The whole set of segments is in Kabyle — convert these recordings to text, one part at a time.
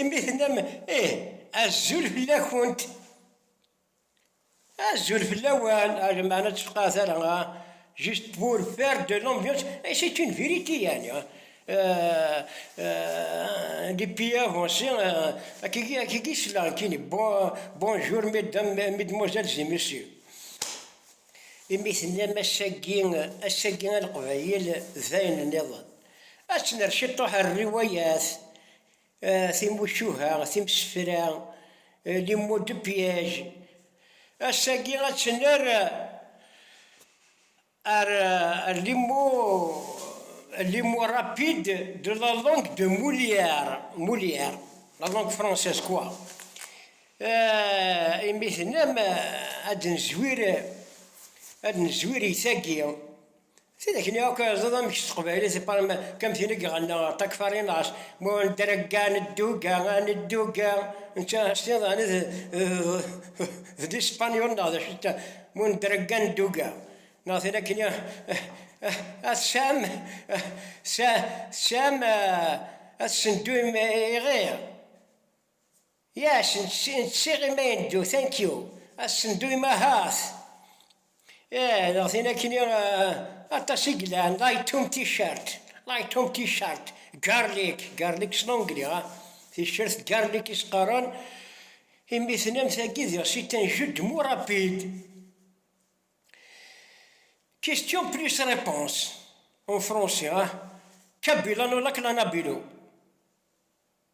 imi tennam ih azul fell-akent azul fell-awen hadi meɛna tfeqɛet ara juste pour faire de l'ambiance et c'est une vérité yani les pays avancés akiki akiki selleɣ nekkini bonjour mesdames mesdemoiselles et messieurs Imi tennam ass-agi, ass-agi a Leqbayel d ayen nniḍen. Ad t-nerr ciṭuḥ ar rriwayat, timucuha, timsefra, les mots de piège. Ass-agi ad t-nerr ar les mots, les mots rapides de la langue de Molière, Molière, la langue française quoi. Ah, imi tennam ah, ad nezwir ad nezwir itagi tidak ni akk ẓad amek s teqbaylit parma kam tin i iɣenna takfarinas mu nedrega nedduga nedduga netta stiḍan d d ispanyol neɣ d acu ta mu nedrega nedduga neɣ tin akken ya asam sam ad sendu iɣir Yes, nsiɣ imi ay neddu. Thank you. Ad s-neddu i ma ahat. Ih, daɣ tin akkenni aṭas i yelhan. Light Tom T-shirt, Light Tom T-shirt, Garlic, Garlic s l'anglais, ha? T-shirt d Garlic i s-qqaren imi tennam tagi diɣ c'est un jeu de mots rapide. Question plus réponse en français, ha? Kabila no lak la nabilo?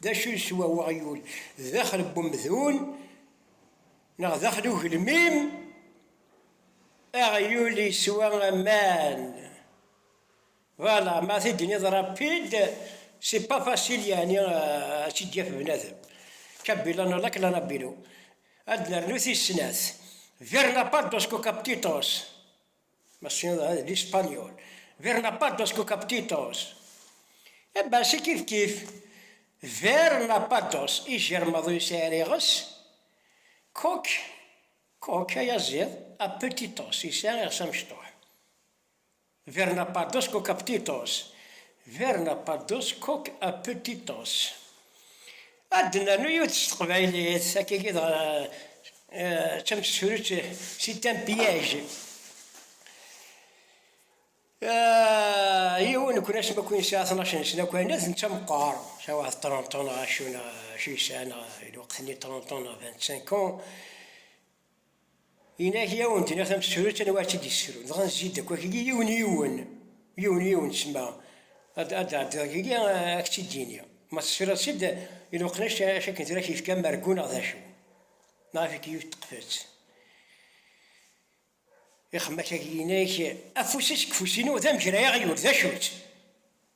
D acu yeswa weɣyul daxel n umdun neɣ daxel n ugelmim? Aɣyul yeswa aman. Voilà, ma t-id-tiniḍ rapide, c'est pas facile yeɛni ad tt-id-yaf bnadem. Kabila no la klanabilo. Ad d-nernu tis snat. Verna pardos kokaptitos. Ma tessineḍ ad di Spanyol. Ver la paz dos cocaptitos. E eh, si kifkif. Ver la paz dos, ijermaḍ ur yesɛi ara iɣes. Coc, coc, ayaziḍ, apetitos, yesɛa iɣes amecṭuḥ. Ver la paz dos cocaptitos. Ver la paz dos coc apetitos. Ad d-nernu yiwet s teqbaylit, sakigi dɣa d tamsefrutt, c'est un piège. Yiwen n kunac maku yesɛa tnac n snakwana, d netta meqqar, sɛa waḥed trente ans neɣ acu, neɣ acu yesɛa, neɣ lweqt-nni trente ans neɣ vingt-cinq ans. Inak i awen-d-nniɣ tamsrut anwa ara tt-id-yessrun, dɣa nezzi-d akk akk-agi yiwen yiwen, yiwen yiwen ssma ad d-ɛeddiḍ akk-agi ad k-tt-id-iniɣ, ma tesriḍ-tt-id iluqen acu akken tura k-yefka amergu neɣ d acu, neɣ ifek yiwet teqfet. Ixemmak-agi inak, afus-is deg ufus-inu d amegray aɣyul, d acu-tt?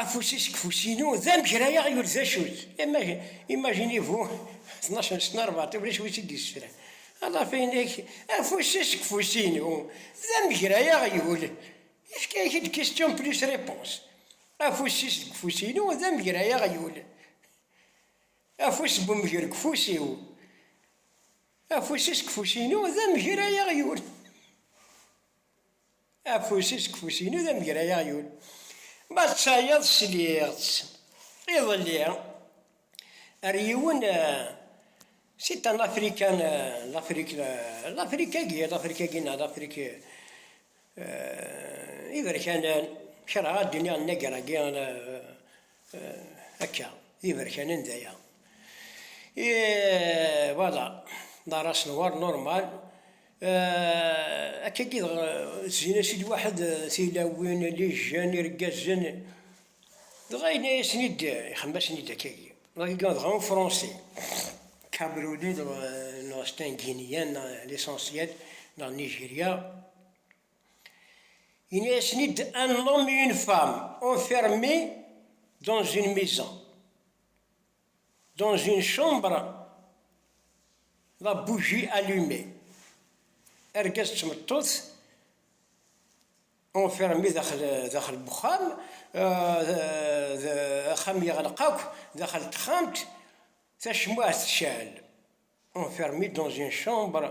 Afus-is deg ufus-inu, d amegrayeɣ yur d acu-t. Imaginez-vous, tnac n sna rebɛa, ulac wi tt-id-yessefran. Aḍaf inek, afus-is deg ufus-inu, d amegrayeɣ yur. Yefka-ak-d question plus réponse. Afus-is deg ufus-inu, d amegrayeɣ yur. Afus n umger deg ufus-iw. Afus-is deg ufus-inu, d amegrayeɣ yur. Afus-is deg ufus-inu d amegray aɣyul. Ma d tayeḍ sliɣ-tt iḍelli ar yiwen c'est un african l'afrique l'afrique-agi l'afrique-agi neɣ l'afrique iberkanen kerheɣ ad d-iniɣ nnager-agi Akka, d iberkanen d aya. Voilà, d aras-nwer normal. Akka i dɣ zzin-as-id waḥed tilawin, lijjan, irgazen. Dɣa yenna-yasen-id, ixdem-asen-id akka agi. Dɣa agi dɣa un fransi, Camerouni dɣ, neɣ c'est un Guinien l'essentiel, neɣ Nigeria. Yenna-yasen-id, Un homme et une femme enfermés dans une maison, dans une chambre, la bougie allumée. Argaz d tmeṭṭut enfermés daxel, daxel uxxam, euh, axxam yeɣleq akk, daxel texxamt, tacmuɛt tecɛel. Enfermés dans une chambre,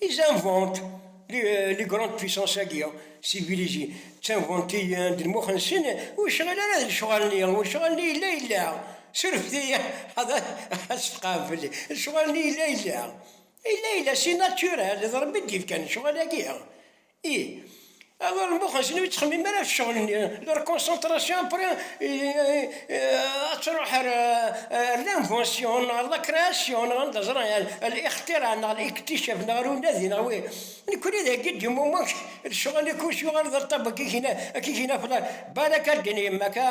Ils inventes li les grandes puissances agi civilisées d tinventiyen d lmux-nsen ur yecɣil ara d lecɣal-nni, lecɣal-nni yella yella, surfet-iyi ad s-tqabel, lecɣal-nni yella yella, yella yella c'est naturel, d Rebbi i d-yefkan lecɣal-agi, Ih, awer mmuxxen ur ttxemmim ara ɣef ccɣel-nni, leur concentration après ad truḥ ar l'invention neɣ ar la création neɣ anda ẓran yani al ixtira neɣ al iktichaf neɣ ar unadi neɣ wi, nekkni dagi d-yemmummex lecɣal akk-is yuɣal d aṭṭab akka i k-in-afla, balak a ddin yemma-k a.